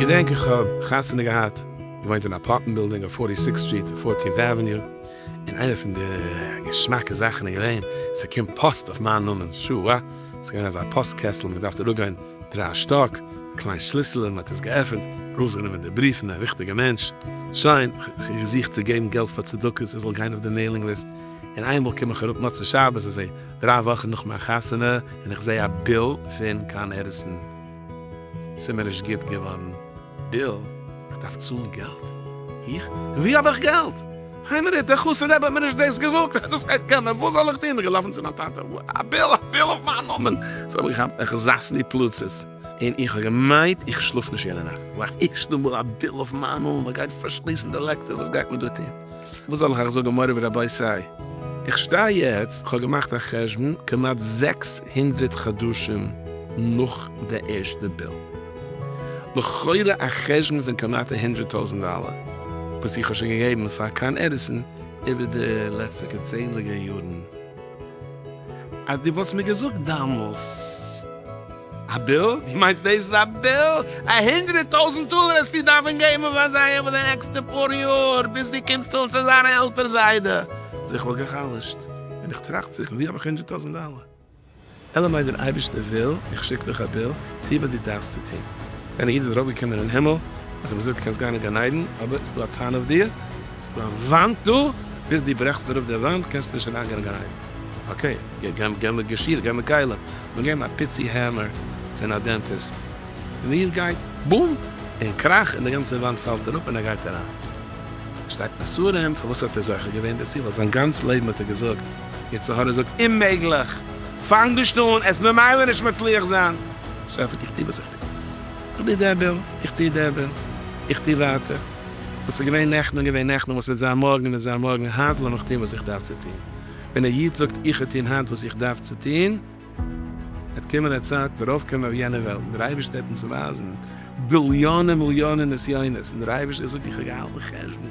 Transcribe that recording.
געדענק איך האב חתונה געהאט, געוואוינט אין אפארטמענט בילדינג אויף פארטי סיקסט סטריט און פארטינט עוועניו, און איינע פון די געשמאקע זאכן איז געווען ס'קומט פאסט אויף מיין נאמען, שו ע. ס'איז געווען אזא פאסט קעסטל, מען האט געדארפט אראפגיין דרײַ שטאק, א קליין שליסעלע, מען האט עס געעפענט, ארויסגענומען די בריוון, א ריכטיגע מענטש, שיין, כ'האב געזוכט צו געבן געלט פאר צדקות, עס זאל גיין אויף די מעילינג ליסט, און איינמאל קום איך אראפ מוצאי שבת, עס איז דרײַ וואכן נאך מיין חתונה, און איך זעה א ביל פון קאן עדיסאן, ס'איז מיר נישט גוט געווארן. ביל, איך דארף צאלן געלט? איך, ווי האב איך געלט? איין מינוט, דער חתן רבי האט מיר נישט דאס געזאגט, ער האט דאס געהערט קודם, וואס זאל איך טון? געלאפן צו מיין טאטע, א ביל, א ביל אויף מיין נאמען! זיי האבן געכאפט איך זאס די פלוצות, און איך האב געמיינט איך שלאף נישט יענע נאכט, ווייל ערשטע מאל א ביל אויף מיין נאמען, מען גייט פארשליסן די לעקטער, וואס גייט מען דא טון? וואס זאל איך אייך זאגן מורי ורבותי, איך שטיי יעצט, איך האב געמאכט א חשבון, כמעט זעקס הונדרעט חדשים נאך די ערשטע ביל. לכאורה א חשבון פון כמעט א הונדרעט טויזענט דאלער וואס איך האב שוין געגעבן פאר קאן עדיסאן איבער די לעצטיגע צענדליגער יארן, אז דו וואלסט מיר געזאגט דאמאלס א ביל, דו מיינסט דאס איז א ביל? א הונדרעט טויזענט דאלער העסטו דארפן געבן פאר זיי איבער די נעקסטע פאר יאר ביז דו קומסט אן צו זיין א עלטער זיידע? זיך וואלגער חלש'ט און איך טראכט זיך ווי האב איך הונדרעט טויזענט דאלער? אלא מאי דער אייבערשטער וויל, איך שיק דיך א ביל, טו וואס דו דארפסט צו טון. ווען א איד איז ארויפגעקומען אין הימל, האט ער געזאגט, דו קענסט גיין אין גן עדן, אבער עס איז דא א טענה אויף דיר, עס איז דא א וואנט דא, ביז דו ברעכסט אראפ די וואנט, קענסטו נישט אריינגיין אין גן עדן. אקעי, גיי מיט געשיר, גיי מיט כלים, מיר געבן א פיצי העמער פון א דענטיסט. און די איד גייט, בום! און קראך! און די גאנצע וואנט פאלט אראפ און ער גייט אריין. שטייט מסרים, פארוואס האט ער זוכה געווען דערצו? ווייל זיין גאנץ לעבן האט ער געזאגט, יצר הרע זאגט אוממעגליך, פאנג נישט אן, עסט ממילא נישט מצליח זיין. שפע איך טו וואס איך טו, איך דו דערביל, איך טו דערביל, איך טו ווייטער, וואס איז געווען נעכטן איז געווען נעכטן, וואס וועט זיין מארגן וועט זיין מארגן, היינט לאמיך טון וואס איך דארף צו טון. ווען א איד זאגט איך וועל טון היינט וואס איך דארף צו טון, וועט קומען א צייט דערויף קען מען אויף יענע וועלט דער אייבערשטער וועט אונז ווייזן ביליאנען מיליאנען נסיונות און דער אייבערשטער זאגט איך האב געהאלטן חשבון,